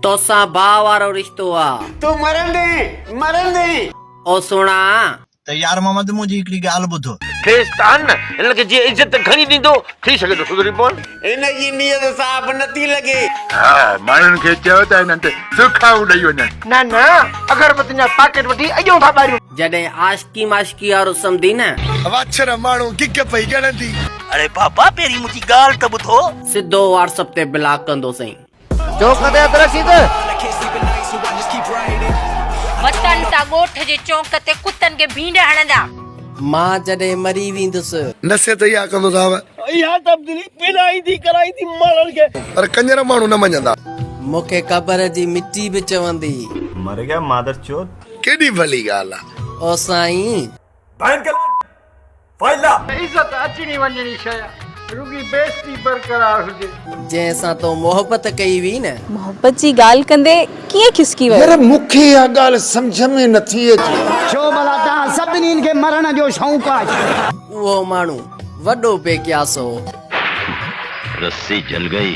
توسان باھ وارو رشتو آ. تون مرندين مرندين. او سھڻا. ته يار محمد منهنجي هڪڙي ڳالهه ٻڌ. ٿيس ته ان هن کي جي عزت گهڻي ڏيندو ٿي سگهي ٿو سڌري پون. هن جي نيت صاف نه ٿي لڳي. ها ماڻهن کي چئو ته هنن تي سرخائون ڏئي وڃن. نه نه اگربتين جا پاڪيٽ وٺي اڄون ٿا ٻاريون. جڏهن عاشقي معشوقي وارو سمدي نه. واڇر ماڻهو گگ پئي ڳڻندي. اڙي بابا پهرين منهنجي ڳالهه ته ٻڌو. سڌو واٽسپ تي بلاڪ ڪندو سائين. چونڪ تي هٿ رکي ته. وتن ٿا ڳوٺ جي چونڪ تي ڪتن کي ڀينڊ هڻندا. مان جڏهن مري ويندس. نصيحت اها ڪندو صاحب. اها تبديلي پيلائيندي ڪرائيندي ماڻهن کي. پر ڪڃر ماڻهو نه مڃندا. مون کي قبر جي مٽي به چوندي. مر گيا مادر چوت. ڪيڏي ڀلي ڳالهه آ. او سائين. Bank alert! فائلا. عزت اچڻي وڃڻي شيء رڳي بيستي برقرار هجي. جنهن سان تو محبت ڪئي هئي نه. محبت جي ڳالهه ڪندي ڪيئن کسڪي ويو. ير مون کي اها ڳالهه سمجهه ۾ نٿي اچي. ڇو ڀلا توهان سڀني کي مرڻ جو شوق آهي. اهو ماڻهو وڏو بي قياس هو. رسي جل گئي.